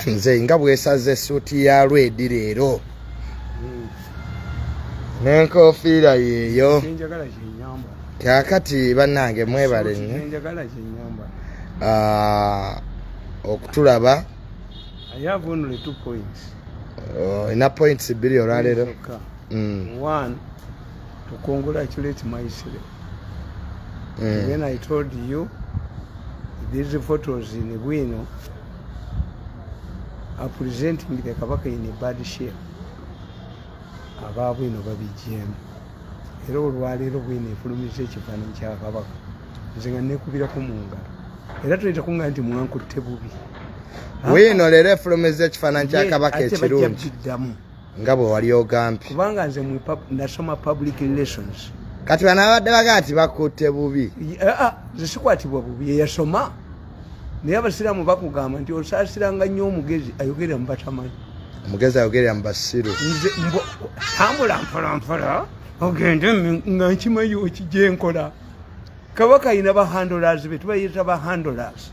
nze nga bwesaze esuuti ya lwedi leero hmm. nenkofiira yeeyo kakati banange mwebale nyo ah, okutulaba olina oh, points bbiri olwaleero to congratulate Maisile. Mm. When I told you these photos in Bueno are presenting the Kabaka in a bad shape, abaabu ino babijjeemu era olwaleero bwino efulumiza ekifaananyi kya kabaka nze nga nekubirako mu ngalo era tuleta kunga nti mwankutte bubi bwino leero efulumiza ekifaananyi kya kabaka ekirungi nga bwe wali ogambye kubanga nze nasoma public relations kati bana abadde baga nti bakutte bubi eh, ah, nze sikwatibwa bubi eyasoma naye abasiraamu bakugamba nti osaasiranga nnyo omugezi ayogerera mu batamanyi omugezi ayogerera mu basiru nze tambula mpolampola ogende nga nkimanyi okijenkola kabaka ayina ba handlers betubayita ba handlers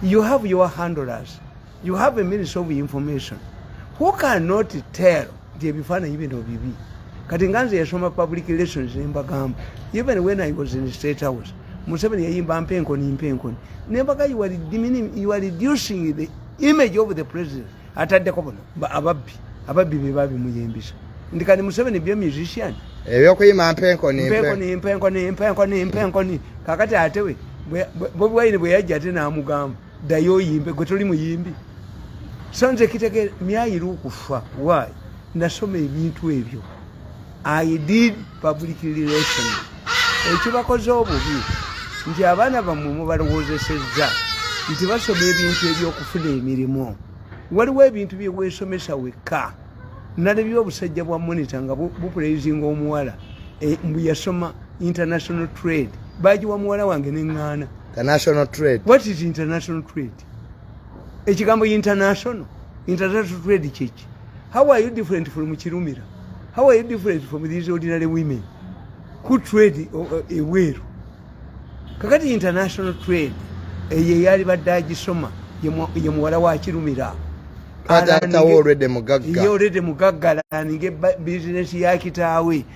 you have your handlers You have a ministry of information who cannot tell nti ebifaananyi bino bibi kati nga nze yasoma public relations nembagamba even when i was in state house museveni yayimba mpenkoni mpenkoni nembaga you are reducing the image of the president ataddeko bono ababbi ababbi bebabimuyimbisa ndi kati museveni byo musician ebyokuyima mpenkoni mpenkoni mpenkoni mpenkoni mpenkoni kakati atewe bobi wine bweyajja ate namugamba ddayo oyimbe gwe toli muyimbi sanze kitegere myayiru okufa why nasoma ebintu ebyo i did public relation ekibakoze obubi nti abaana bammwe mubalowoozesezza nti basoma ebintu ebyokufuna emirimu waliwo ebintu byewesomesa wekka nalabye obusajja bwa monita nga bupulezinga omuwala eh, mbu yasoma international trade bagiwa muwala wange neŋŋaana international trade what is international trade ekigambo international international trade kyeki how are you different from kirumira how are you different from these ordinary women who trade uh, uh, ebweru kakati international trade eyo eyali badde agisoma ye muwala wa kirumira ye olwedde mugagga alaninga bizinesi ya kitaawe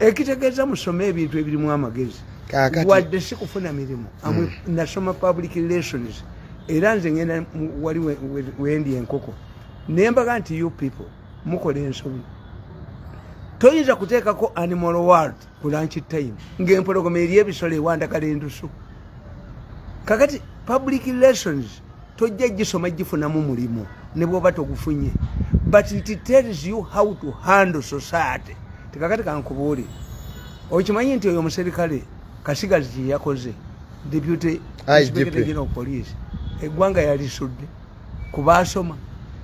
ekitegeeza musome ebintu ebirimu amagezi wadde si kufuna mirimu hmm. nasoma public relations era nze ngenda wali wendi enkoko naye mbaga nti you people mukola ensobi toyinza kuteekako animal world ku lanchi time ng'empologoma eri ebisolo ewandagala endusu kakati public relations tojja gisoma gifunamu mulimu ne bwoba togufunye but it tells you how to handle society tekakati kankubuuli okimanyi nti oyo omuserikale kasigazi kyeyakoze deputy inspector general of police eggwanga yalisudde kubaasoma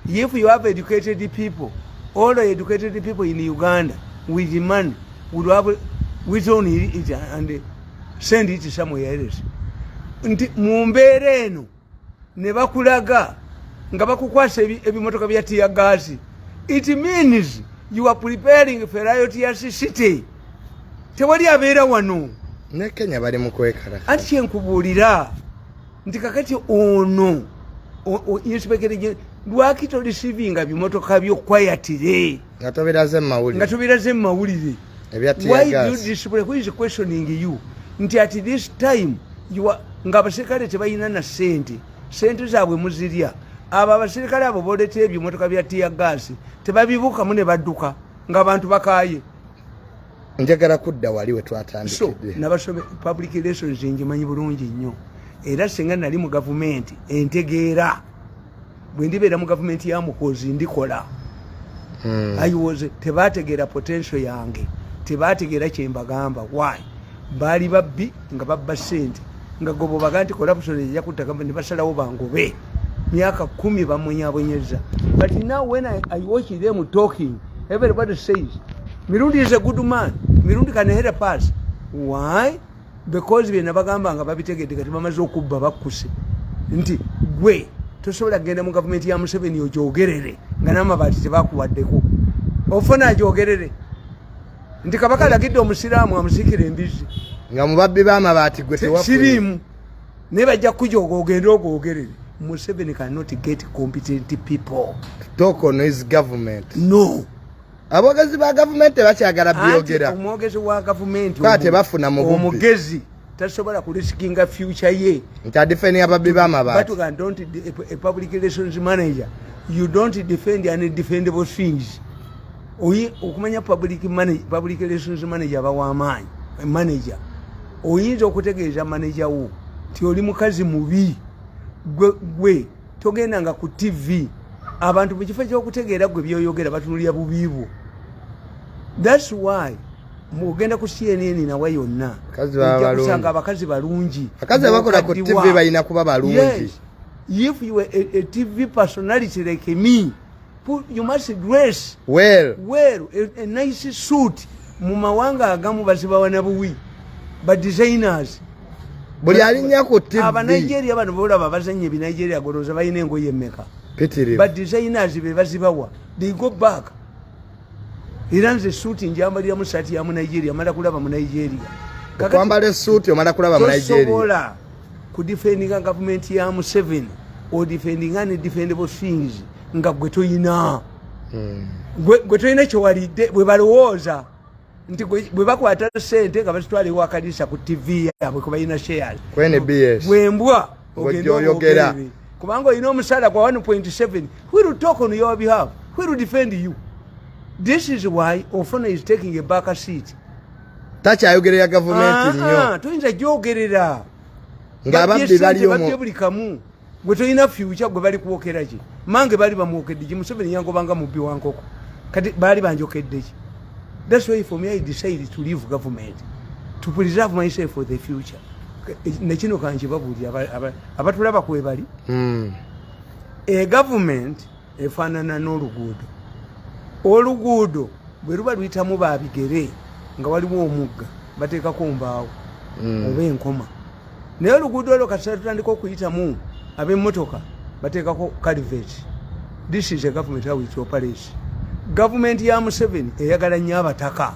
if you have educated people all educated people in uganda with money would have withdrawn it and send it somewhere else nti mu mbeera eno ne bakulaga nga bakukwasa ebimotoka bya tiya gaasi it means you are preparing for riot ya city tewali abeera wano ne kenya bali mu kwekala anti kyenkubuulira nti kakati ono inspekere lwaki tolisivinga bimotoka byo kwayatire nga tobiraze mu mawulire nga tobiraze mu mawulire why do you display who is questioning you nti at this time you are nga abaserikale tebalina na sente sente zaabwe muzirya abo abaserikale abo boleta ebyo emotoka bya tiya gaasi tebabibukamu ne badduka nga abantu bakaaye njagala kudda wali we twatandikidde nabasome public relations njimanyi bulungi nnyo era singa nali mu gavumenti entegeera bwe ndibeera mu gavumenti ya muhoozi ndikola hmm. ayiwoze tebategeera potensio yange tebategeera kyembagamba why baali babbi nga babba sente nga gobobaga nti corruption eja kutta gavumenti basalawo bangobe myaka kumi bamunyabonyeza but now when I, i watch them talking everybody says mirundi is a good man mirundi can help us why because byena bagamba nga babitegedde kati bamaze okubba bakkuse nti gwe tosobola kugenda mu gavumenti ya museveni ogyogerere nga n'amabaati tebakuwaddeko ofuna agyogerere nti kabaka alagidde omusiraamu amusikira embizzi nga mubabbi b'amabaati gwe siriimu naye bajja kukujooga ogende ogwogerere museveni cannot get competent people talk on his government no abogezi ba gavumenti tebakyagala byogera omwogezi wa gavumenti tebafuna omugezi tasobola kulisikinga future ye nti adifeni ababbi bamabaatipublic relations manager you don't defend any defendable things oyi okumanya public relations manager bawamaanyi manager oyinza okutegeeza manager wo nti oli mukazi mubi gwe togenda nga ku tv abantu mu kifo kyokutegeera gwe byoyogera batunulira bubi bwo thats why mugenda ku cnn nawe yonna kusanga abakazi balungi abakazi abakola ku tv balina kuba balungi if you a, a tv personality like me you must dress well well a, a nice suit mu mawanga agamu bazibawa na buwi ba designers buli alinya ku tv aba Nigeria bano bolaba bazanye bi Nigeria goloza bayine engoye meka pitiri ba designers be bazibawa they go back era nze suuti njambalira mu saati ya munigeria mala kulaba munigeria okwambala esuuti omala kulaba munigeriosobola kudifendinga gavumenti ya museveni odifendinga ne defendable things nga gwe toyina hmm. gwe toyina kyewalidde bwe balowooza nti bwe bakwata sente nga bazitwala ewakanisa ku tv yabwe kubalina shares bwembwa ogende oyogera kubanga olina omusaala gwa 1.7 who will talk on your behalf who will defend you this is why ofuna is taking a back seat takyayogerera gavumenti nyo toyinza gyogerera ngaababbi baliobabbi buli kamu gwe tolina fyukya gwe bali kwokera ki mange baali bamwokedde ki museveni yangobanga mubbi wa nkoko kati baali banjokedde ki that's why for me i decided to leave government to preserve myself for the future nekino kankibabuulira abatulaba kwebali hmm. egavumenti efaanana n'oluguudo oluguudo bwe luba luyitamu babigere nga waliwo omugga bateekako mbaawo hmm. oba enkoma naye oluguudo olwo kasita tutandika okuyitamu ab'emmotoka bateekako caliveti this is a government how it operates gavumenti ya museveni eyagala nnyo abataka hmm.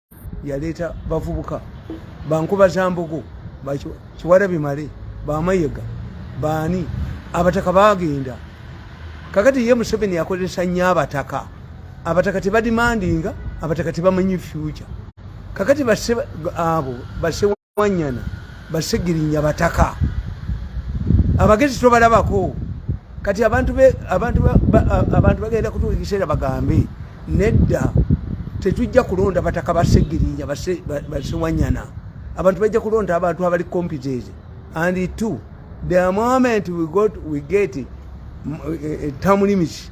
yaleeta bavubuka bankuba za mbogo kiwala bimale bamayega baani abataka bagenda kakati ye museveni yakozesa nnyo abataka abataka tebadimandinga abataka tebamanyi future kakati abo base wanyana basegirinya bataka abagezi tobalabako kati abantu bagenda kutuuka ekiseera bagambe nedda tetujja kulonda bataka basegirinya basewanyana abantu bajja kulonda abantu abali competent and two the moment we got we get eh, eh, term limits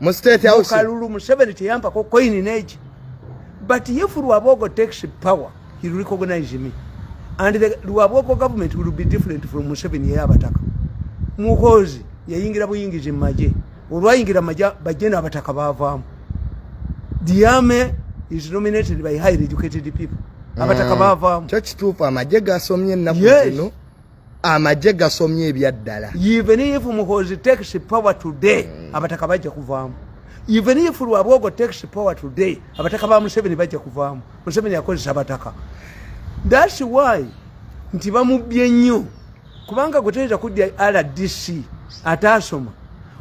mu state house kalulu museveni teyampako coin neji but if luabogo takes power he will recognize me and the luabogo government will be different from museveni yeyabataka muhozi yayingira buyingizi mumaje olwayingira maje bajje nabataka bavaamu diame is nominated by highly educated people abataka mm. bavaamu kyo kituufu amaje gasomye ennaku zino amagye gasomye ebyaddala even if muhozi takes power today mm. abataka bajja kuvaamu even if lwabwogo takes power today abataka ba museveni bajja kuvaamu museveni akozesa abataka thats why nti bamubbye nnyo kubanga gwe toyinza kudya rdc ataasoma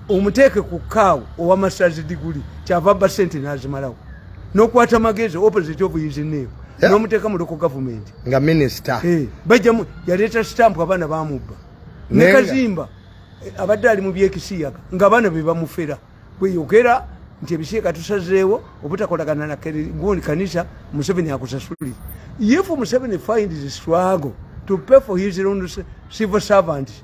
omuteeke ku kaawo owa masazi diguli kyava ba sente nazimalawo nokwata magezi opposite of his name yeah. nomuteeka mu loko government nga minister hey, eh, bajjamu yaleeta stamp abaana bamubba nekazimba eh, abadde ali mu byekisiyaga nga abaana be bamufera kweyogera nti ebisiika tusazeewo obutakolagana na gundi kanisa museveni akusasulire if museveni find the struggle to pay for his own civil servants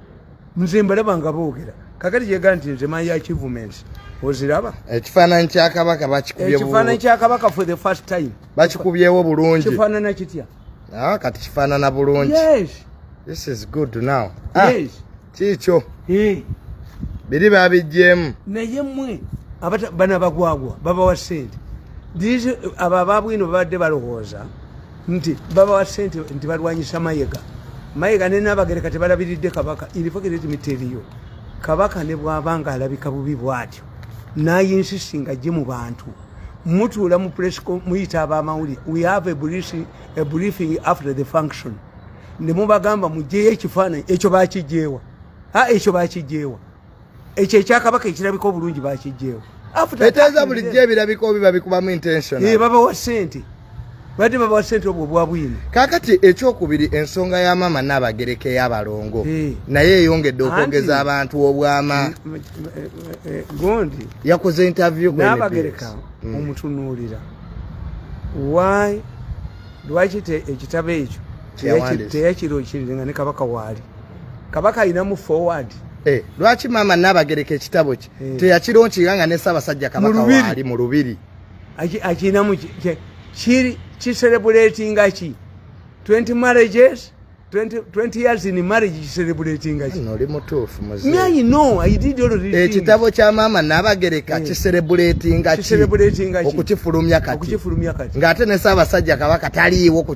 nze mbalaba nga boogera kakati kyega nti nze my achievements oziraba ekifaananyi kya kabaka bakikubye ekifaananyi kya kabaka for the first time bakikubyewo bulungi kifaanana kitya ah, kati kifaanana bulungi yes this is good now ah, yes kiikyo eh. biri babijjeemu naye mwe bana bagwagwa babawa sente abo ababwino babadde balowooza nti babawa sente nti balwanyisa mayega mayega nenabagereka tebalabiridde kabaka irifogeretimiteriyo kabaka ne bwaba nga alabika bubi bwatyo nayinsisi nga gye mu bantu mutuula mu presco muyita abamawulire we have a briefing after the function ne mubagamba mugyeyo ekifaananyi ekyo bakijeewa a ekyo bakijeewa ekyo ekyakabaka ekirabika obulungi bakijjeewo eteeza bulijjo ebirabika obi babikubamu intention eh, babawa sente badde babawa sente obwo bwabwini kakati ekyokubiri ensonga ya maama nabagereka eyabalongo eh. naye eyongedde okwogeza abantu obwama eh, gondi yakoze interview nabagereka mm. omutunuulira why lwaki ekitabo ekyo teyakirokirire nga ne kabaka waali kabaka alina mu forward eh, lwaki maama nabagereka ekitabo kye eh. teyakironkirira nga ne ssaabasajja kabaka waali mu lubiri akinamu kiri kiserebulatinga ki 20 marriages 20, 20 years in marriage kiserebulatinga ki noli mutuufu muzeeyi no i did all the ekitabo kya maama nabagereka eh. kiserebulatinga ki okukifulumya kati okukifulumya kati ng'ate ne ssaabasajja kabaka taliiwo ku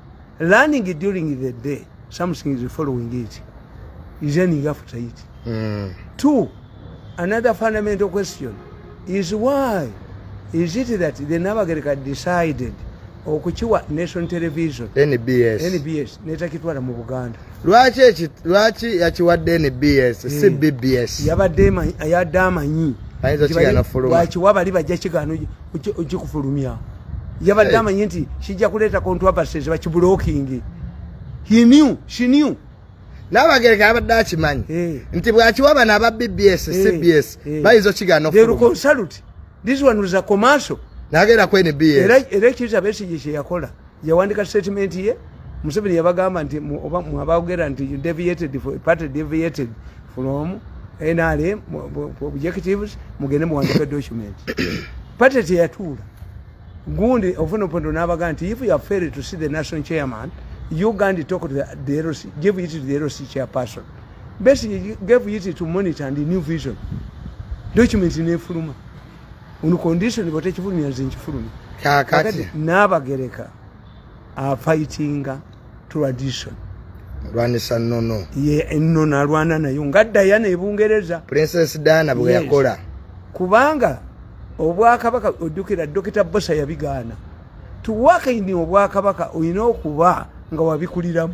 learning during the day something is following it is ending after it mm. two another fundamental question is why is it that the nabagereka decided okukiwa nation television nbs nbs netakitwala mu buganda lwaki eki lwaki yakiwadde nbs si eh. bbs yabadde yadde amanyi lwaki wabali bajja kigaano ojja kufulumya yabadde eh. amanyi nti kijja kuleeta controversies bakibulokingi he knew she knew nabagereka abadde akimanyi eh. nti bwakiwa bano aba bbs eh. cbs bayinza okigana okufuluma this one was a commercial nagera ku nbs era ekiriza besigye kyeyakola yawandika statement ye museveni yabagamba nti oba mwabagera nti you deviated for party deviated from nrm objectives mugende muwandika document party teyatuula gundi ofuna opondo nabaga nti if you are failed to see the national chairman you gandi talk to the, the LC, give it to the LC chairperson basically gave it to monitor and new vision document nefuluma on condition bwetekifulumya nze nkifulumya kakati nabagereka afightinga tradition lwanisa nono ye enono alwana nayo nga dayana ebungereza princess dana bwe yakola kubanga obwakabaka ojjukira dokita bosa yabigaana tuwakaini obwakabaka olina okuba nga wabikuliramu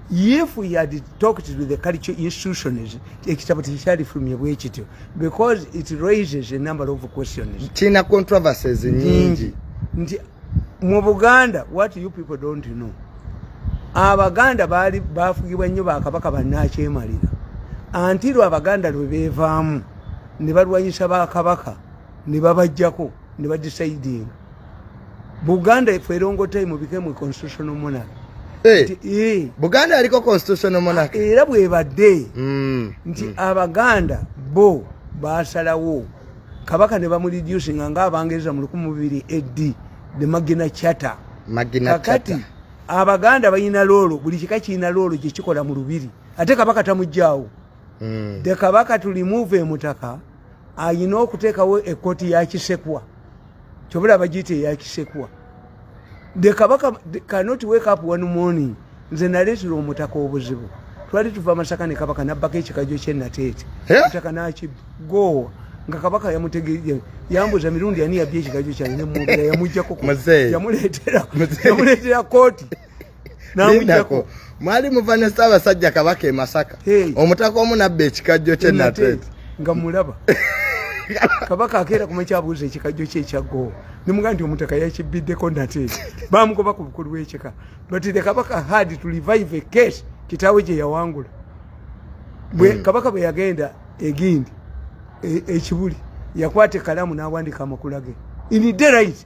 if he had talked to the culture institutions ekitabo tekyalifulumye bwe kityo because it raises a number of questions kirina controversies nyingi nti mu buganda what you people don't know abaganda baali bafugibwa nnyo bakabaka bannakyemalira anti lwe abaganda lwe beevaamu ne balwanyisa bakabaka ne babajjako ne badisaidinga buganda efe erongotai mubikemu constitutional monarch eh, eh. buganda aliko constitutional monarch era bwebadde mm, nti mm. abaganda bo basalawo kabaka ne bamureducinga nga abangereza mu lukumi bubiri ed the magina chata kakati abaganda balina loolo buli kika kirina loolo gyekikola mu lubiri ate kabaka tamugjawo mm. the kabaka to remove emutaka ayina okutekawo ekoti ya kisekwa kyobula bagiyita eya kisekwa the kabaka cannot wake up one morning nze naleetera omutaka obuzibu twali tuva masaka ne kabaka nabbako ekikajo kyenateete eh? mutaka nakigoowa nga kabaka yamutegee yambuza mirundi ani yabya ekikajo kyange nemwogera yamujjako yamuleetera kooti namujako mwali muva ne ssaabasajja kabaka e masaka omutaka omu nabba ekikajjo kye nate nga mulaba kabaka akeera kumakyabuuza ekikajjo kye ekyaggowo nemuga nti omutaka yakibbiddeko nate bamugoba ku bukulu bwekika but the kabaka had to revive a case kitaawe gye yawangula hmm. kabaka bwe yagenda egindi e, ekibuli yakwata ekalamu n'awandika amakula ge in the right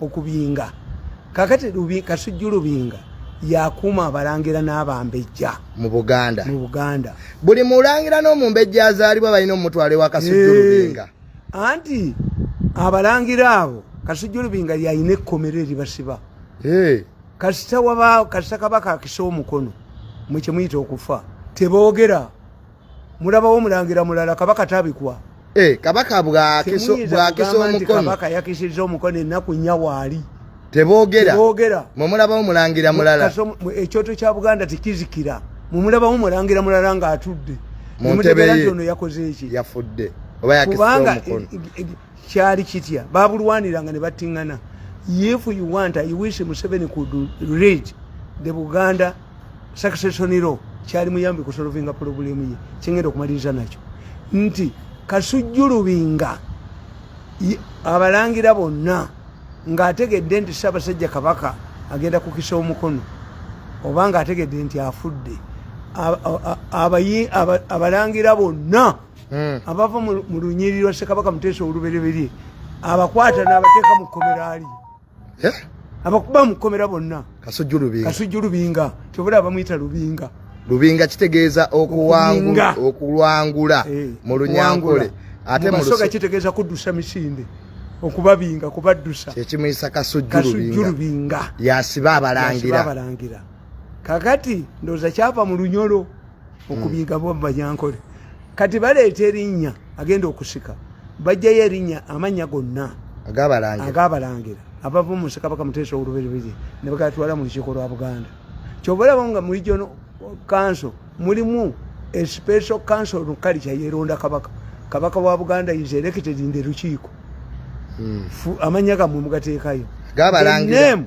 okubinga kakati kasujju lubinga yakuuma abalangira n'abambejja mu buganda mu buganda buli mulangira n'omumbejja azaalibwa balina omutwalo ewa kasujju lubinga anti abalangira abo kasujju lubinga yalina ekkomero eribasiba kasita wabaawo kasita kabaka akisa omukono mwe kyemuyita okufa teboogera mulabawo omulangira mulala kabaka tabikwa eh, kabaka bwakisa omukono kabaka yakisiza omukono ennaku nnya waali tebogera tebogera mwe mulabawo mulangira mulala ekyoto kya buganda tekizikira mwe mulabawo mulangira mulala ng'atudde muntebe ye ono yakoze eki yafudde oba yakisiza omukono kyali kitya babulwaniranga ne battingana if you want i wish museveni could read the buganda succession law kyali muyambi kusolovinga pulobulemu ye kyengenda okumaliriza nakyo nti kasujjulubinga abalangira bonna ng'ategedde nti ssaabasajja kabaka agenda kukisa omukono oba ng'ategedde nti afudde abalangira bonna hmm. abava mu lunyiriri lwa ssekabaka muteesa olubereberye abakwata n'abateeka mu kkomera ali eh? abakuba mu kkomera bonna kasujju lubinga kyobula abamuyita lubinga lubinga kitegeeza okulwangula eh, mu lunyankole ate musoga kitegeeza kuddusa misinde okubabinga kubaddusa kyekimuyisa kasujju lubinga yasiba abalangira kakati ndowooza kyava mu lunyolo okubiga bo bajankole kati baleeta erinnya agenda okusika bajjayo erinnya amannya gonna agabalangira abava mu nsekabaka muteesa olubereberye ne bagatwala mu lukiiko lwa buganda kyova olaba nga mu region council mulimu especial council nukali kyayeronda kabaka kabaka wa buganda is elected in the lukiiko hmm. amannya gamwe mugateekayo gabalangira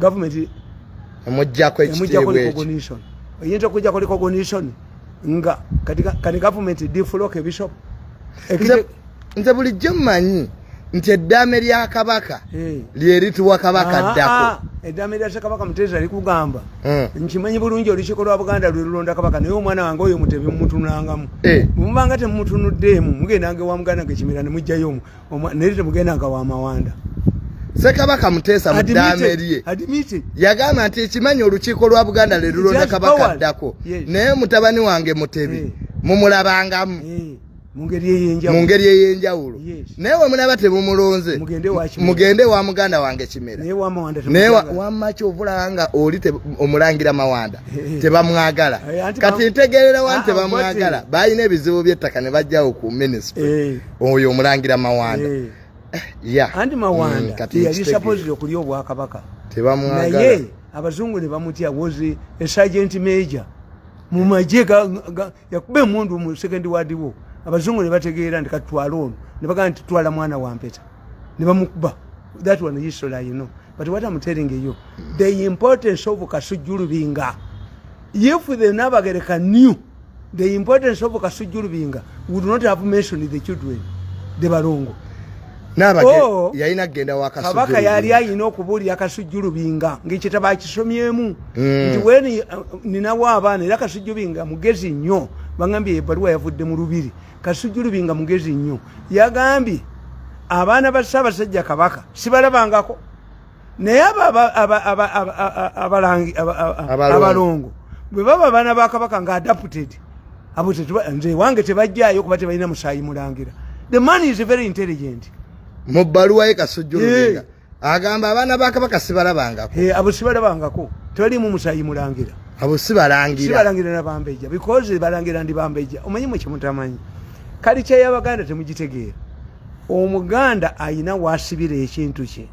government emujjako ekitiibwa recognition eyinza okujjako recognition nga kati government deflock bishop nze bulijjo mmanyi nti eddaame lya kabaka eh. lyerituwa kabaka ah, ddako ah, eddaame lya kabaka muteesa likugamba eh. nkimanyi bulungi olukiiko lwa buganda lwe lulonda kabaka naye omwana wange oyo mutebe mumutunangamu eh. mubanga temumutunuddeemu mugendanga ewa muganda gekimira ne mujjayo omu naye temugenda nga wamawanda sekabaka muteesa mudamerye yagamba nti ekimanyi olukiiko lwa buganda lelulonda kabaka addako naye mutabani wange mutebi eh. mumulabangamu eh. mu ngeri ey'enjawulo naye wemulaba temumulonze mugende wa muganda wange kimera naye wamaki ovulaba nga oli omulangira mawanda eh, eh. tebamwagala eh, kati ntegerera wani ah, tebamwagala balina ebizibu by'ettaka ne bajjawo ku minisitule oyo omulangira mawanda eh. Eh, ya andi mawanda mm, yali supposed okulya obwakabaka tebamwagala naye abazungu ne bamutya was a sergeant major mu magye yakuba emundu mu second ward wo abazungu ne bategeera nti katutwala ono ne bagamba nti twala mwana wa mpeta ne bamukuba that one history you know but what am telling you the importance of kasujulubinga if the nabagereka new The importance of Kasujju Lubinga would not have mentioned the children, the Balongo. Oh, kabaka yali ayina okubuulira kasujju lubinga ngaekitabo akisomyemu mm. nti weni uh, ninawo abaana era kasujju binga mugezi nnyo bagambye ebaluwa yavudde mu lubiri kasujju lubinga mugezi nnyo yagambye abaana ba ssaabasajja kabaka sibalabangako naye abalangi abalongo bwe baba abaana ba kabaka nga adapted abo nze wange tebajjayo kuba tebalina musaayi mulangira the man is very intelligent mu bbaluwa ye kasujjulugenga agamba abaana ba kabaka sibalabangako abo sibalabangako tebalimu musaayi mulangira abo sibalangira sibalangira na bambeja because balangira ndi bambeja omanyi mwe kyemutamanyi kali kyeyabaganda temugitegeera omuganda ayina wasibira ekintu kye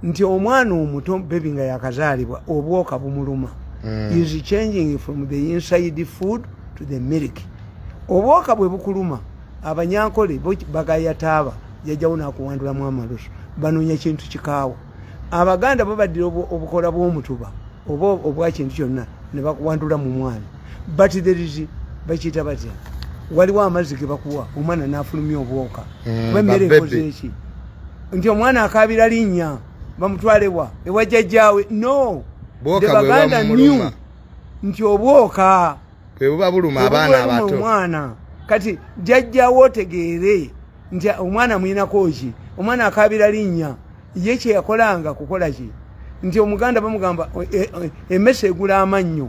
nti omwana omuto bebi nga yakazaalibwa obwoka bumuluma mm. is changing from the inside food to the milk obwoka bwe bukuluma abanyankole bagayataaba jajawo nakuwandulamu amalusu banonya kintu kikaawa abaganda babaddira obukola bwomutuba oba obwa kintu kyonna ne bakuwandula mu mwana but there is bakiyita batya waliwo amazzi ge bakuwa omwana nafulumya obwoka mm, kuba emmere ekoze eki nti omwana akabira linnya bamutwalewa ewa jajjaawe no the baganda new nti obwoka bwebuba buluma abaana abato omwana kati jajjawo otegeere nti omwana muyinako ki omwana akabira linnya ye kyeyakolanga kukola ki nti omuganda bamugamba emese e, e, egula amannyo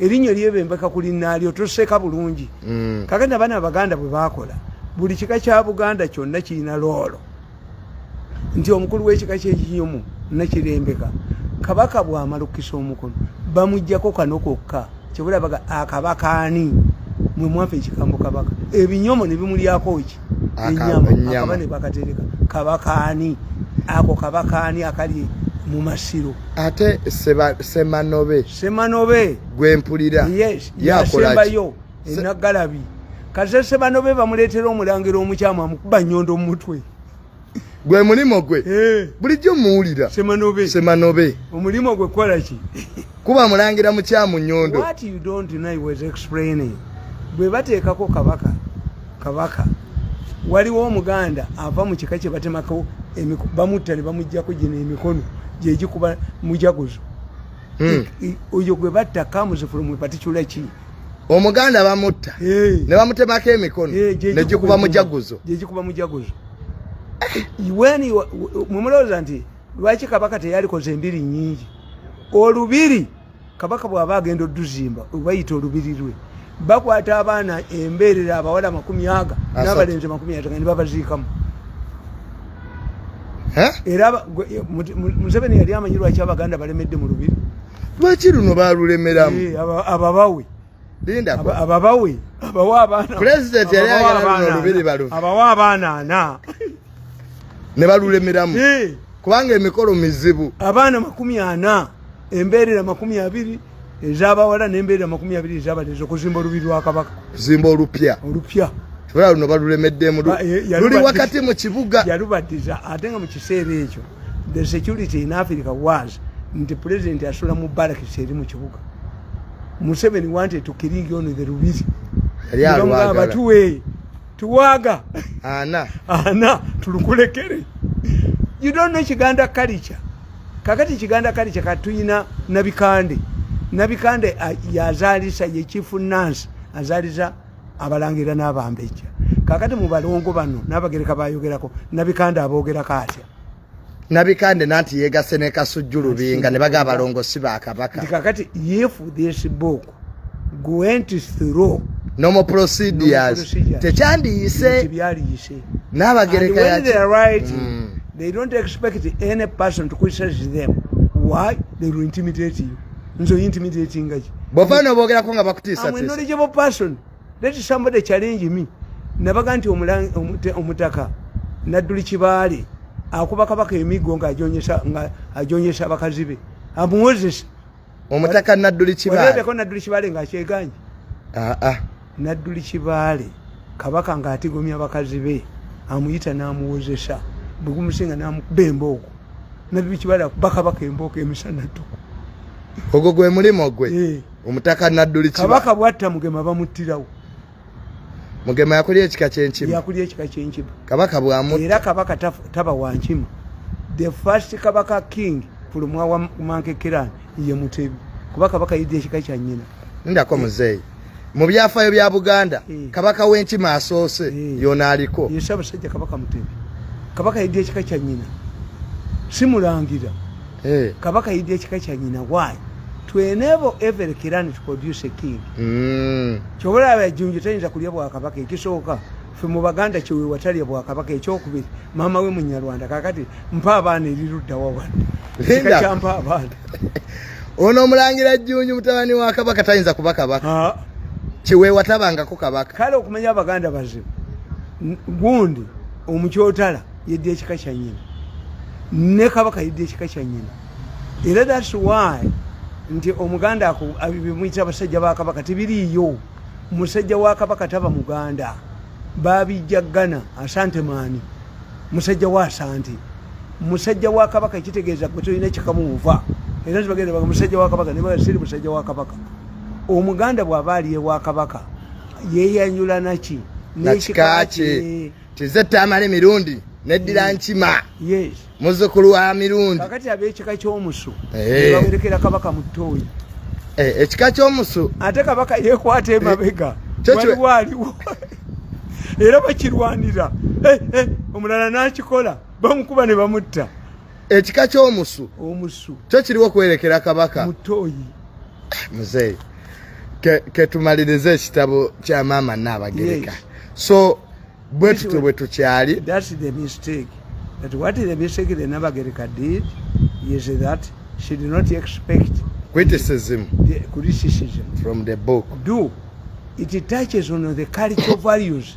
erinyo lyebembeka kuli nalyo toseka bulungi mm. kagenda bana abaganda bwe bakola buli kika kya buganda kyonna kirina loolo nti omukulu w'ekika kyekiyomu nakirembeka kabaka bwamalukisa omukono bamujjako kano kokka kyebulabaga akabakaani mwe mwafa ekikambo kabaka ebinyomo ne bimulyako ki enyama nebakatereka kabakaani ako kabakaani akali mumasiro ate semanobe semanobe gwempulira yes yasembayo enagalabi kaze semanobe bamuletera omulangira omukyama mukuba nyondo mumutwe gwe mulimu gwe eh. bulijjo muwulira semanobe semanobe omulimu gwe kukola ki kuba mulangira mukyamu nyondo what you don't deny was explaining bwe bateekako kabaka kabaka waliwo omuganda ava mu kika kye batemako bamutta ne bamuggyako gino emikono gyegikuba mujaguzo hmm. oyo gwe batta kamuzi from a particular ki omuganda bamutta ne bamutemako emikono ne gikuba mujaguzo gyegikuba mujaguzo weni mumulowooza nti lwaki kabaka teyalikoze embiri nyingi olubiri kabaka bwaba agenda oduzimba obayita olubiri lwe bakwata abaana embeerera abawala amakumi aga n'abalenzi amakumi ataga ne babaziikamu era museveni yali amanyi lwaki abaganda balemedde mu lubiri lwaki luno balulemeramu eh, ababawe ababawe abawa abaana pulezidenti yali ayagala luno lubiri baluve abawa abaana ana ne balulemeramu eh. kubanga emikolo mizibu abaana makumi ana embeerera makumi abiri ezabawala nembeera makumi abiri ezabalezi okuzimba olubi lwakabaka kuzimba olupya olupya tubala luno balulemeddemu eh, luli wakati mu kibuga yalubadiza ate nga mu kiseera ekyo The security in Africa was nti president asula mu barracks eri mu kibuga. Museveni wanted to killing you on the Rubiri. Yali alwaga. Nga batuwe tuwaga. Ana. Ana tulukulekere. You don't know Chiganda culture. Kakati Chiganda culture katuyina nabikande. Nabikande yazalisa ye chief nurse azaliza abalangira n'abambejja kakati mu balongo bano n'abagereka bayogerako nabikande aboogerako atya nabikande nanti yegase ne kasujju lubinga ne baga abalongo si ba kabaka kakati if this book went through normal procedures tekyandiyise n'abagereka yaki mm. they don't expect any person to criticize them why they will intimidate you nze oyinti miti ekingaki bova nobogerako nga bakutiisa knowledgeable person let somebody challenge me nabaga nti omutaka nadduli kibaale akuba kabaka emiggo nga ajonyesa abakazi be amuwozesa omutaka nadduli kibaale nadduli kibaale nga akyeganye aa ah, ah. nadduli kibaale kabaka ng'atigomya bakazi be amuyita n'amuwozesa bwe gumusinga n'amukuba embooko nadduli kibaale akuba kabaka embooko emisana ttuku ogwo gwe mulimu gwe eh. omutaka nadduli kabaka bwatta mugema bamuttirawo mugema yakulya ekika kyenkima yakulya ekika kyenkima kabaka bwamu era kabaka taba wankima the first kabaka king fulumwa wa mankekerani ye mutebi kuba kabaka yidde ekika kya nyina ndako eh. muzeeyi mu byafaayo bya buganda eh. kabaka w'enkima asoose eh. yona aliko ye sabasajja kabaka mutebi kabaka yidde ekika kya nyina simulangira kabaka yidde ekika kya nyina waayi to enable every clan to produce a king mm. kyobola abajunju tayinza kulya bwakabaka ekisooka fe mu baganda kyewewatalya bwakabaka ekyokubiri maama we munyarwanda kakati mpa abaana eriruddawa wano kika kyampa abaana ono omulangira jjunju mutabani wa kabaka tayinza kuba kabaka kyewewatabangako kabaka kale okumanya abaganda bazibu gundi omukyotala yedda ekika kya nyina ne kabaka yedda ekika kya nyina era that's why nti omuganda ako bimuyita abasajja ba kabaka tebiriiyo musajja wa kabaka taba muganda babijja gana asante maani musajja wa asante musajja wa kabaka ekitegeeza gwe tolina kikamuuva era tibagenda baga musajja wa kabaka nebaga siri musajja wa kabaka omuganda bw'aba aliye wa kabaka yeeyanyula naki n'ekika kye kize tamale mirundi neddira mm. nkima muzukulu wa mirundi kakati abekika kyomusu eh. bawerekera kabaka mutoyi eh, ekika kyomusu ate kabaka yekwata emabega eh, waliwo aliwo era bakirwanira omulala nakikola bamukuba ne bamutta ekika kyomusu omusu kyo kiriwo kwerekera kabaka mutoyi muzeeyi ketumaliriza ekitabo kya maama naabagereka so bwe tutyo bwe tukyali criticism from the book do it touches on the cultural values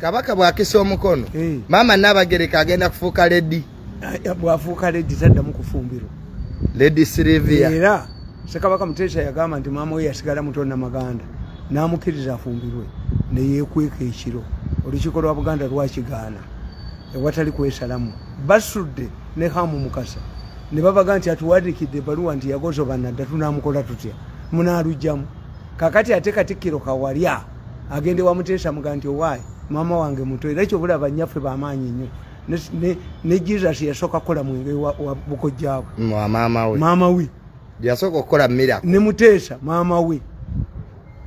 Kabaka bwakisa omukono hey. Eh. Mama Nabagereka agenda kufuuka ledi eh, bwafuuka ledi taddamu kufumbiro ledi Sylvia era Sekabaka Muteesa yagamba nti maama we yasigala muto Namaganda n'amukkiriza afumbirwe ne yeekweka ekiro olukiiko lwa Buganda lwakigaana ewatali kwesalamu basudde ne Hamu Mukasa ne babaga nti atuwandikidde ebaluwa nti yagozobanadda tunamukola tutya munaalujjamu kakati ate katikkiro kawalya agende wa muteesa muga nti owaayi maama wange muto era ekyo bulaba nnyaffe bamaanyi nnyo ne jesus yasooka kukola mwenge wa bukojjaabwe maama we yasooka okukola mira ne muteesa maama we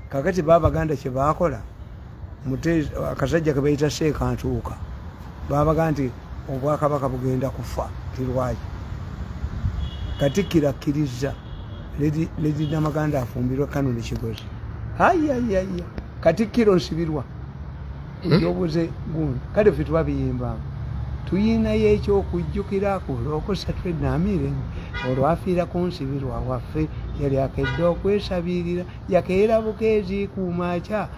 kakati baabaganda kye baakola akasajja ke bayita seekantuuka babaga nti obwakabaka bugenda kufa tirwaki katikkiro akkirizza ledi namaganda afumbirwa kanoni kigozi ayayaya katikkiro nsibirwa hmm? ekyobuze gundi kale fe tuba biyimbamu tuyinayo ekyokujjukira ku lwokusatu enamiire olwafiira ku nsibirwa waffe yali akedde okwesabirira yakeera bukeeziikuumakya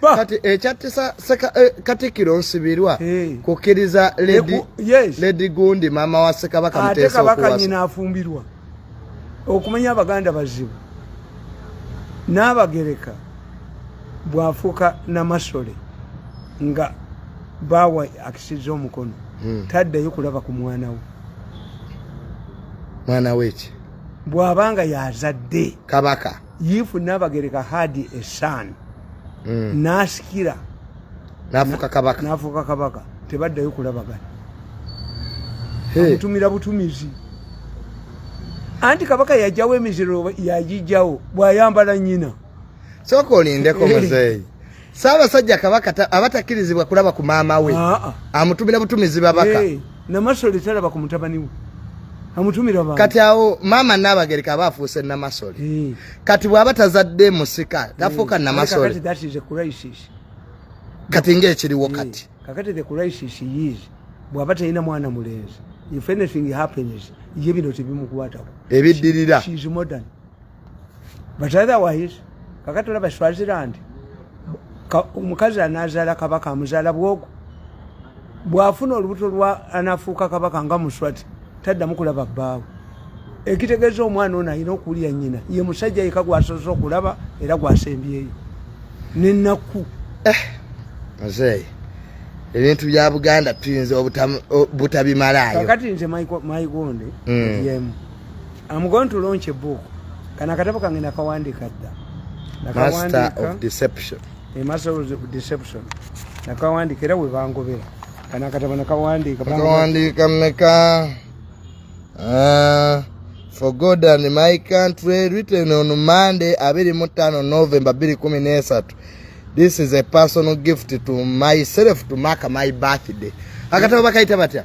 kati ekyattisa eh, katikiro nsibirwa kukkiriza ledi gundi maama wa sekabaka ate kabaka nyina afumbirwa okumanya abaganda bazibu n'abagereka bwafuuka namasole nga baawa akisiza omukono hmm. taddayo kulaba ku mwana we mwana weki bw'aba nga yazadde kabaka if Nabagereka had a son mm. nasikira nafuka kabaka nafuka kabaka tebaddayo kulabagana amutumira hey. butumizi anti kabaka yajawo emiziro yajijawo bwayambala nyina soka olindeko muzeeyi Ssaabasajja Kabaka aba takkirizibwa kulaba ku maama we, ah, ah. amutumira butumizi babaka. Hey, Namasole talaba ku mutabani we. Amutumira baba. Kati awo maama Nnaabagereka aba afuuse Namasole. Hey. Kati bw'aba tazadde musika tafuuka hey. Namasole. Kati that is a crisis. Kati ng'ekiriwo kati. Hey. Kakati the crisis is bw'aba talina mwana mulenzi. If anything happens, ye bino tebimukwatako. Ebiddirira. She, she is modern. but otherwise kakati olaba swaziland omukazi anazaala kabaka amuzaala bwogo bwafuna olubuto lwa anafuuka kabaka nga muswati taddamu kulaba bbaawe ekitegeeza omwana ono alina okuwulira nyina ye musajja yeka gwasoose okulaba era gwasembyeyo nenakku eh, muzeeyi ebintu bya buganda tuyinza obutabimalaayokati nze maigonde mm. yemu I'm going to launch a book. Kana katabo kange nakawandiika dda. Master of deception. A master of deception. Nakawandiika era we bangobera. Kana akatabo nakawandiika. Nakawandiika mmeka? Uh, for God and my country written on Monday abiri mu ttaano November bbiri kumi n'esatu. This is a personal gift to myself to mark my birthday. Akatabo bakayita batya?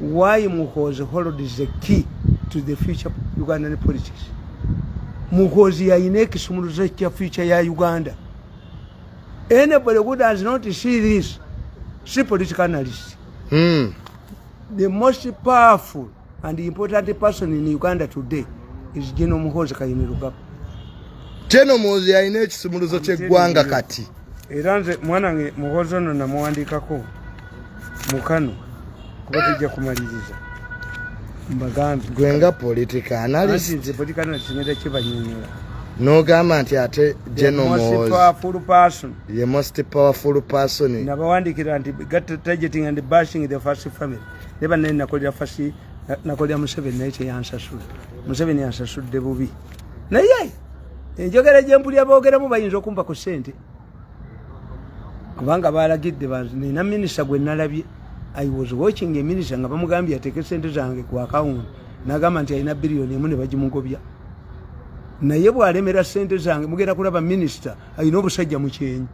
why muhozi hold is the key to the future ugandan politics muhozi yayina ekisumuluzo kya future ya uganda anybody who does not see this si political analyst mm. the most powerful and important person in uganda today is general muhozi kayini lugaba general muhozi yayina ekisumuluzo kyeggwanga kati era nze mwana nge muhozi ono namuwandikako mukano kuba tujja kumaliriza mbagambi gwenga politika analisinze politika nasinera kibanyonyola nogamba nti ate ye most powerful person nabawandikira nti targeting and bashing the first family neba naye nakolera fasi nakolera museveni naye teyansasula museveni yansasudde bubi naye enjogera gyempulira boogeramu bayinza okumpa ku ssente kubanga balagidde nina minisita gwe nalabye i was watching a minister nga bamugambye ateeke sente zange ku akawunti nagamba nti alina biliyoni emu ne bagimugobya naye bwalemera sente zange mugenda kulaba minisita alina obusajja mu kyenyi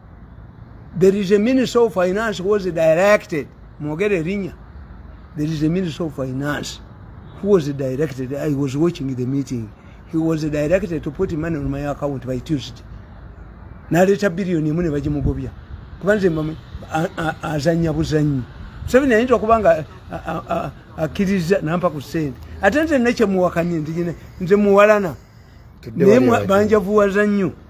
there is a minister of finance was directed mwogera erinya there is a minister of finance who was directed i was watching the meeting he was directed to put money on my account by tuesday naleeta biliyoni emu ne bagimugobya kuba nze azanya buzanyi museveni ayinza okuba nga akkiriza nampa ku sente ate nze nekyemuwakanye nze muwalana naye banjavuwaza nnyo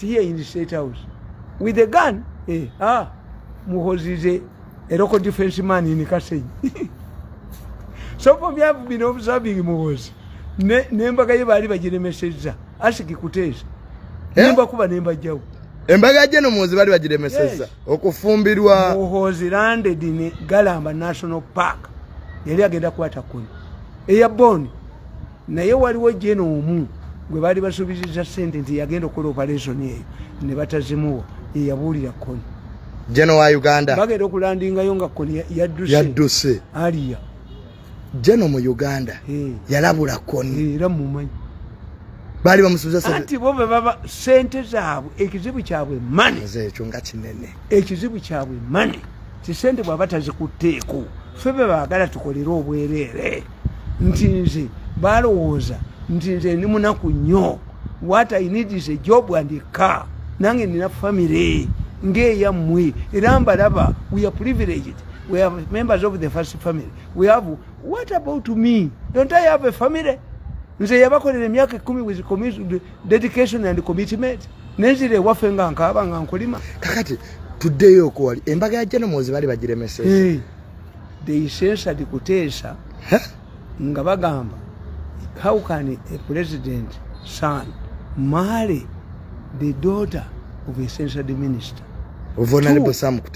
here in the state house with a gun eh, ah, muhozi is a, a local defense man in kasenyi so for me i've been observing muhozi nembaga ye baali bagiremesezza asiki kuteesa eh? nemba kuba nemba jawu embaga je no muhozi baali bagiremesezza okufumbirwa muhozi landed in galamba national park yali agenda kwata kuni eya boni naye waliwo jena omu gwe baali basuubiziza sente nti yagenda okukola operation eyo ne batazimuwa yeyabuulira koni jena wa uganda bagenda okulandingayo nga koni yadduse aliya jeno mu uganda eh. yalabula koni eh, era mumanyi baali bamusuuzaati bo bebaba sente zaabwe ekizibu kyabwe mane ekyo nga kinene ekizibu kyabwe mane kisente bwaba tazikutteeko ffe be baagala tukolere obwereere nti nze balowooza nti nze ndi munaku nnyo what i need is a job and a car nange nina family ngeeyammwe era mbalaba we are privileged we have members of the first family we have what about me don't i have a family nze yabakolera emyaka ekumi with dedication and commitment nenzira ewaffe nga nkaaba nga nkulima kakati tuddeyo okuwali embaga ya jenomozi bali bagiremeseza they censored kuteesa nga bagamba how can a president son marry the daughter of a censored minister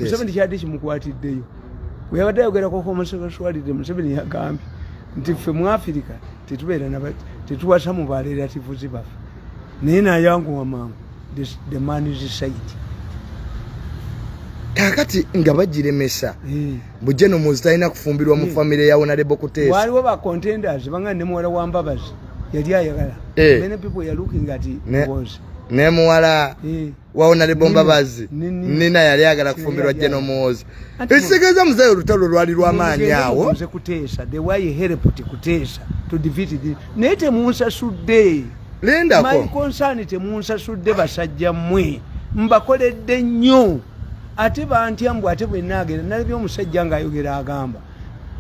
museveni kyadde kimukwatiddeyo weyabadde ayogerako homosexuality museveni yagambye nti ffe mu afirika tetubeera tetuwasa mu barelativuzi baffe naye nayanguwa mangu the man is said kakati nga bagiremesa eh. bujje nomuzi talina kufumbirwa mu eh. famire ya onarebo kuteesa waliwo ba contenders banga ne muwala wa mbabazi yali ayagala eh. many people are looking at ne, was ne muwala eh. wawona lebombabazi nina yali agala kufumbirwa jeno muwozi ekitegeeza muzeeyi olutalo lwali lwamaanyi awo naye temunsasudde lindakonsani temunsasudde basajja mmwe mbakoledde nnyo ate bantya mbu ate bwenaagera nalabye omusajja ngaayogera agamba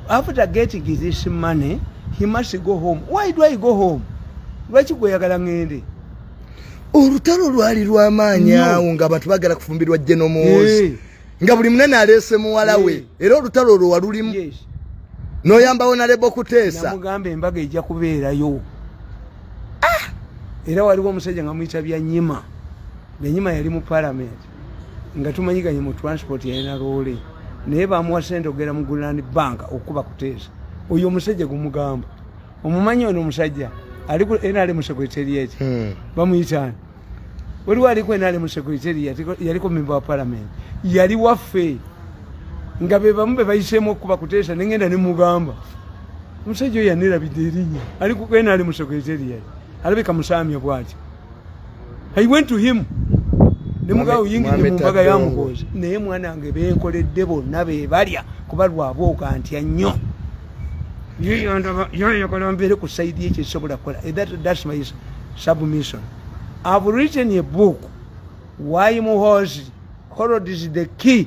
after getting this money he must go home why do i go home lwaki gweyagala ngende olutalo lwali lwamaanyi awo nga abantu bagala kufumbirwa jenomozi nga buli munene aleese muwala we era olutalo olwo walulimu noyambawo nalebo kuteesamugamba embaga ejja kubeerayo ah! era waliwo omusajja nga muyita byanyima byanyima yali mu palamenti nga tumanyiganye mu transport yalina loole naye bamuwa sente okugera mu guland bank okukuba kuteesa oyo omusajja gumugamba omumanyi ono omusajja ali ku nrm secretariat hmm. bamuyitaani waliwo ali ku nrm secretariat yaliko memba wa palamenti yali waffe nga bebamu bebayiseemu okukuba kuteesa nengenda nemugamba omusajja oyo yanirabidde erinya ali ku nrm secretariat alabika musaamya bwatyo I went to him ne mugabe oyingidde mu mbaga ya muhoozi naye mwana wange benkoledde bonna be balya kuba lwaba okantya nnyo yoyagala mbeere ku saidi ekyo ekisobola kukola eh, thats my submission i've written a book why muhoozi horod is the key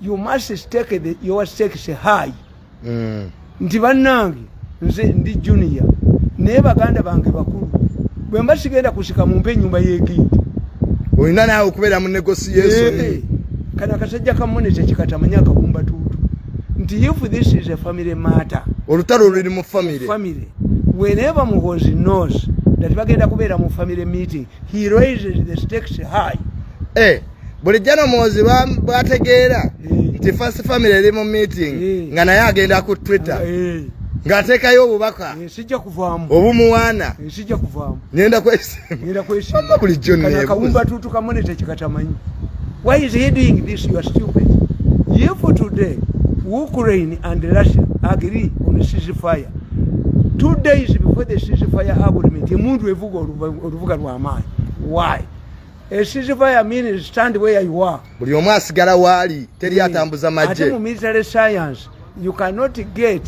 you must stake the, your stakes high mm. nti bannange nze ndi junior naye baganda bange bakulu bwe mba sigenda kusika mumpa ennyumba y'egindi olina naawe okubeera mu negotiation hey, eh, kana kasajja kamonete kikatamanya akabumba tuutu nti if this is a family matter olutalo luli mu family family whenever muhozi knows that bagenda kubeera mu family meeting he raises the stakes high eh. bulijjo no muwozi bwategeera nti first family eri mu meeting nga naye agenda ku twitter ng'ateekayo obubaka eh, sijja kuvaamu obumuwaana eh, sijja kuvaamu ngenda kwesimba kwesimba bulijjo neekawumba tuutu kamone tekikatamanyi why is he doing this you are stupid if today ukraine and russia agree on sisi fire two days before the sisi fire agreement emundu evuga oluvuga lw'amaanyi why esiziva ya mean stand where you are buli omu asigala waali teri atambuza maje ate mu military science you cannot get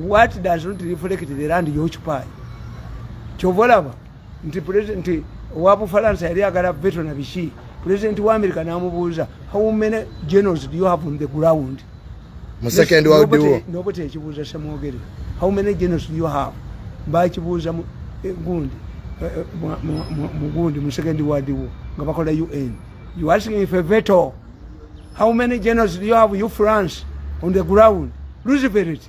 what does not reflect the land you occupy kyova olaba nti president wa bufalansa yali agala veto na biki president wa america namubuuza how many generals do you have on the ground mu second world war nobo tekibuuza samwogere how many genocide you have bakibuuza mu eh, gundi eh, eh, mu gundi mu second world war nga bakola un you asking if a veto how many genocide you have you france on the ground luciferity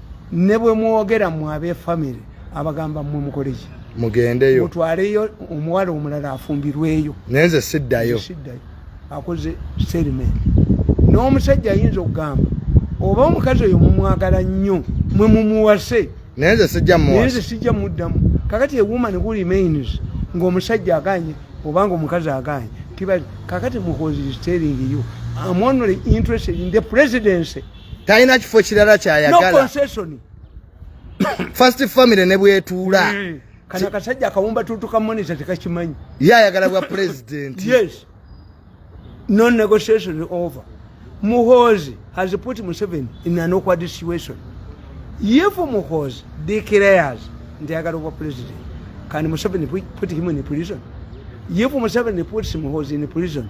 ne bwe mwogera mu abefamire abagamba mwe mukoleki mugendeyo mutwaleyo omuwala omulala afumbirweyo naye nze siddayo akoze serimenti n'omusajja ayinza okugamba oba omukazi oyo mumwagala nnyo mwe mumuwase naye nze sijja muwase nze sijja muddamu kakati a woman who remains ng'omusajja aganye obanga omukazi aganye tibali kakati muhozi is telling you am only interested in the presidency talina kifo kirala kyayagala first family ne bwetuula hmm. kana kasajja akawumba tutu ka monitor tekakimanyi ye ayagala bwa president yes no negotiation over muhozi has put museven in an awkward situation if muhozi declares nti ayagala obwa president can museven put him in prison if museven puts muhozi in prison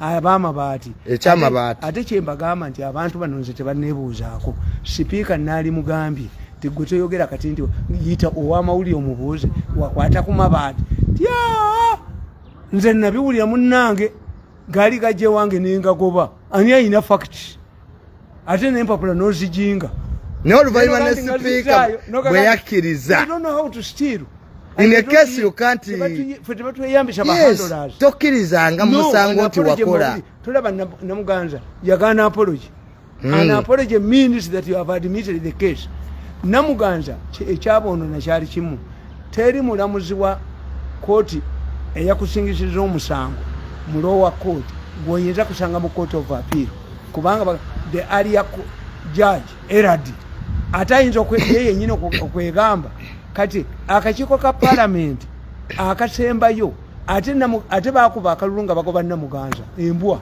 abamabaati ekyamabaati ate kyembagamba nti abantu bano nze tebanebuuzaako sipiika naali mugambye tigwe toyogera kati nti yita owamawulire omubuuze wakwata ku mabaati tya nze nabiwulira munange gaali gajja ewange nengagoba ani ayina fakiti ate nempapula nozijinga naye oluvanyuma ne sipiika bwe yakkiriza tokkirizanga musango nti wakola tolaba namuganza yagana apology hmm. an apology means that you have admitted the case namuganza ekyaboonona kyali kimu teri mulamuzi wa kooti eyakusingisiza omusango mulowa kooti gwoyinza kusanga mu kooti of appeal kubanga the area judge erad ate ayinza okweye yenyini okwegamba kati akakiiko ka palamenti akasembayo ate bakuba akalulu nga bagoba namuganza embwa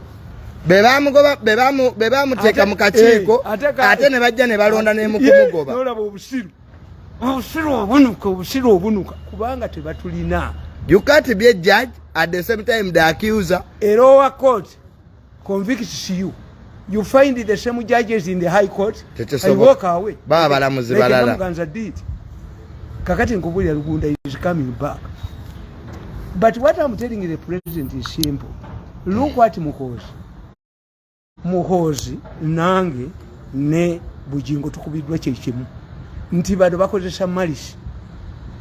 bebamuteeka mu kakiiko eh, ate ne bajja ne balonda nemukumugoba obusiru obunuka obusiru obunuka kubanga tebatulina you can't be a judge at the same time the accuser era owa court convicts you you find the same judges in the high court and walk away baba balamuzi balala like Muganza did kakati nkubulira Lugunda is coming back but what I'm telling the president is simple look what Muhozi Muhozi nange ne Bujingo tukubiddwa kye kimu nti bado bakozesa malice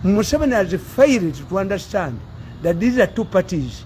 Museveni has failed to understand that these are two parties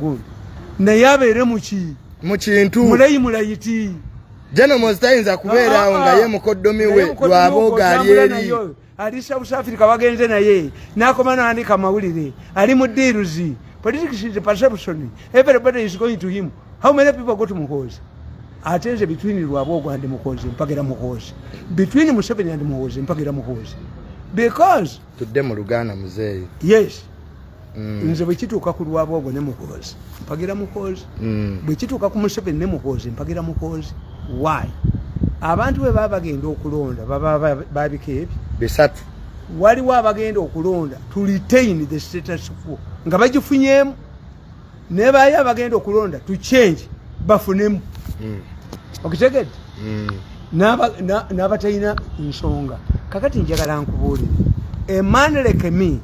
good naye abeere muki mu kintu mulayi mulayiti jeno mozitayinza kubeeraawo ah, ah, nga ah. ye mukoddomi we lwabooga ali eri ali south africa bagenze naye nakoma nandika amawulire ali mu diiruzi politics is perception everybody is going to him how many people go to muhoozi ate nze between lwaboogo and muhoozi mpagira muhoozi between museveni and muhoozi mpagira muhoozi because tudde mu luganda muzeeyi yes mm. nze bwekituuka ku lwabwogo ne muhoozi mpagira muhoozi mm. bwekituuka ku museveni ne muhoozi mpagira muhoozi why abantu bwe baba bagenda okulonda baba babika ebyo bisatu waliwo abagenda okulonda to retain the status quo nga bagifunyemu ne baye abagenda okulonda to change bafunemu mm. okitegedde mm. n'abatalina nsonga kakati njagala nkubuulire a man like me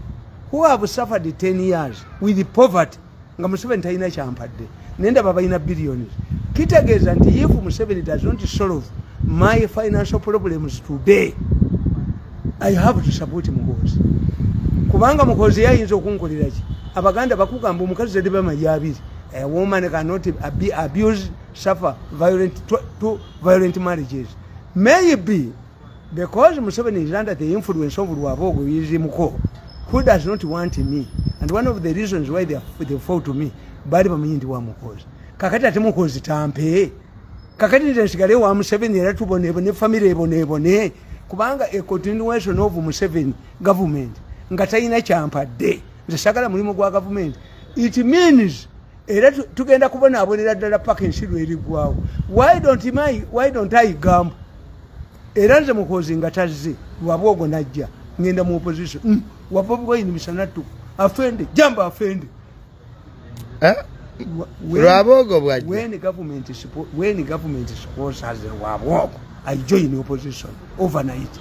who have suffered 10 years with poverty nga museveni talina kyampadde naye ndaba balina billions kitegeeza nti if museveni does not solve my financial problems today i have to support muhoozi kubanga muhoozi yayinza okunkolera ki abaganda bakugamba omukazi zade bamayi abiri a woman cannot be abused suffer violent to, to violent marriages maybe because museveni is under the influence of lwabogo yizimuko who does not want me and one of the reasons why they, they fall to me bali bamanyi ndi wa muhoozi kakati ate muhoozi tampee kakati nze nsigale wa museveni era tubonebone famire ebonebone kubanga a continuation of museveni government nga talina kyampadde nze sagala mulimu gwa gavumenti it means era tugenda kubonaabonera ddala paka ensi lwerigwawo why don't my why don't i gambo era nze mukozi nga tazze lwaba ogwo najja ngenda mu opposition mm. wabobwoyini misanattuku afende jamba afende eh? lwabogo bwajja when government when government sponsors lwabogo i join opposition overnight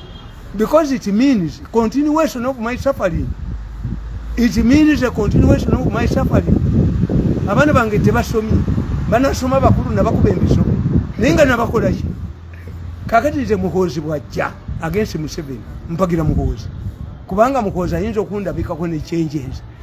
because it means continuation of my suffering it means a continuation of my suffering abaana bange tebasomye banasoma bakulu nabakuba emisomo naye nga nabakolaki kakati nze muhoozi bwajja agensi museveni mpagira muhoozi kubanga muhoozi ayinza okundabikako nekyenjenzi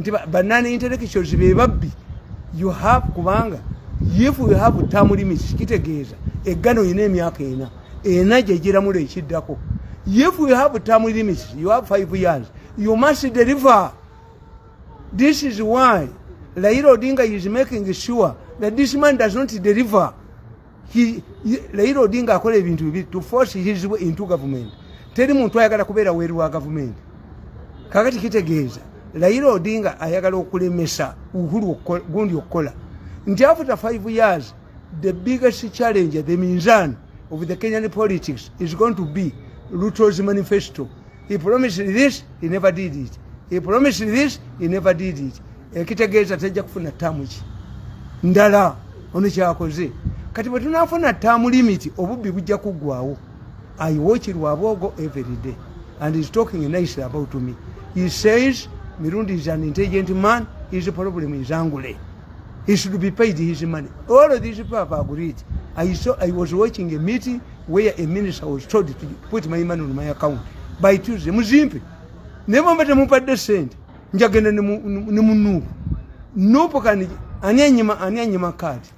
nti banana intellectuals be babbi you have kubanga if you have term limits kitegeeza eggano yina emyaka ena ena gyegiramula ekiddako if you have term limits you have five years you must deliver this is why laira odinga is making sure that this man does not deliver Raila Odinga akola ebintu bibiri to force his way into government. Teri muntu ayagala kubeera weru wa government. Kakati kitegeeza Raila Odinga ayagala okulemesa Uhuru gundi okukola nti after five years the biggest challenge the minzan of the Kenyan politics is going to be Ruto's manifesto. he promised this he never did it he promised this he never did it ekitegeeza tejja kufuna ttaamu ki ndala ono kyakoze kati bwe tunafuna ttaamu limiti obubbi bujja kuggwawo i watch lwabwogo every day and is talking nicely about me he says mirundi is an intelligent man his problem is angule he should be paid his money all of these people have agreed i saw i was watching a meeting where a minister was told to put my money on my account by Tuesday muzimpe naye bwemba temupadde sente njagenda ne munuupu nuupu kani ani anyima ani anyima kaadi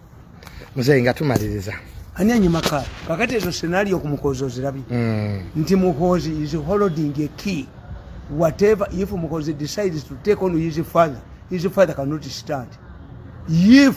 muzeyi nga tumaliriza ani anyima kaadi kakati ezo senario kumukozi ozirabye mm. nti mukozi is holding a key whatever if mukozi decides to take on his father his father cannot stand if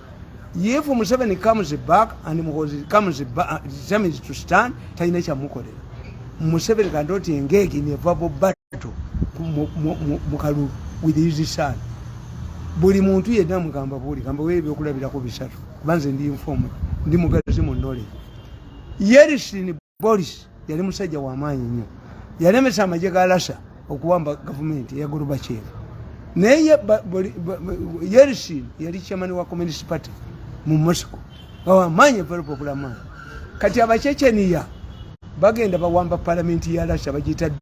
if museveni comes back and muhozi comes back determines to stand talina kyamukolera museveni kandoti engege in a verbal battle mukalulu with his son buli muntu yenna mugamba buli gamba we ebyokulabirako bisatu kubanze ndi informed ndi mugazi mu knowledge yerisini Boris yali musajja wa maanyi nnyo, yalemesa amagye ga Lasa okuwamba gavumenti eya Gorbachev. Naye Yeltsin yali chairman wa Communist Party mu Moscow, bawa maanyi very popular man. Kati Abachecheniya bagenda bawamba palamenti ya Lasa bagiyita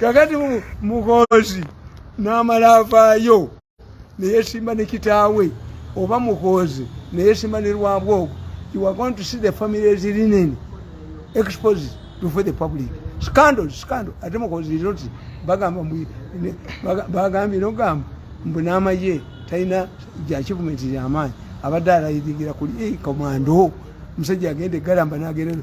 kakati muhoozi n'amala avaayo neyesimba ne kitaawe oba muhoozi neyesimba ne lwabwogo you are going to see the families linen exposed before the public scandal scandal ate muhoozi liroti bagamba bagambye nogamba mbu n'amaye talina gya kivumenti lyamaanyi abadde alayiringira kuli komando eh, omusajja agenda egalamba nagerero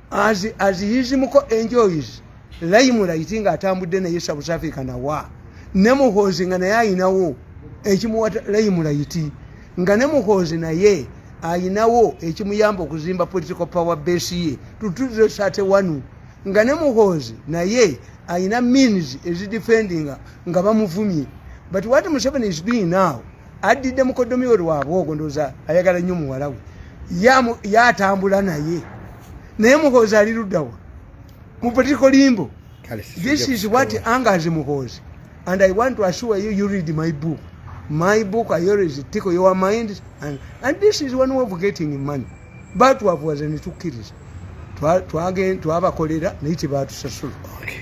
as, as his muko enjoys laimu laiti nga atambudde naye south africa nawa ne muhoozi nga naye ayinawo ekimuwa laimu laiti nga ne muhoozi naye ayinawo ekimuyamba okuzimba political power base ye tutuze sate wanu nga ne muhoozi naye ayina means ezidefendinga nga bamuvumye but what museveni is doing now addidde mukoddomi we lwabwogo ndooza ayagala nnyo muwala we yatambula naye naye muhoozi ali luddawa mu political limbo this is what angers muhoozi and i want to assure you you read my book my book i always tickle your mind and, and this is one way of getting money batwavuwaza netukkiriza twabakolera naye tebatusasula okay.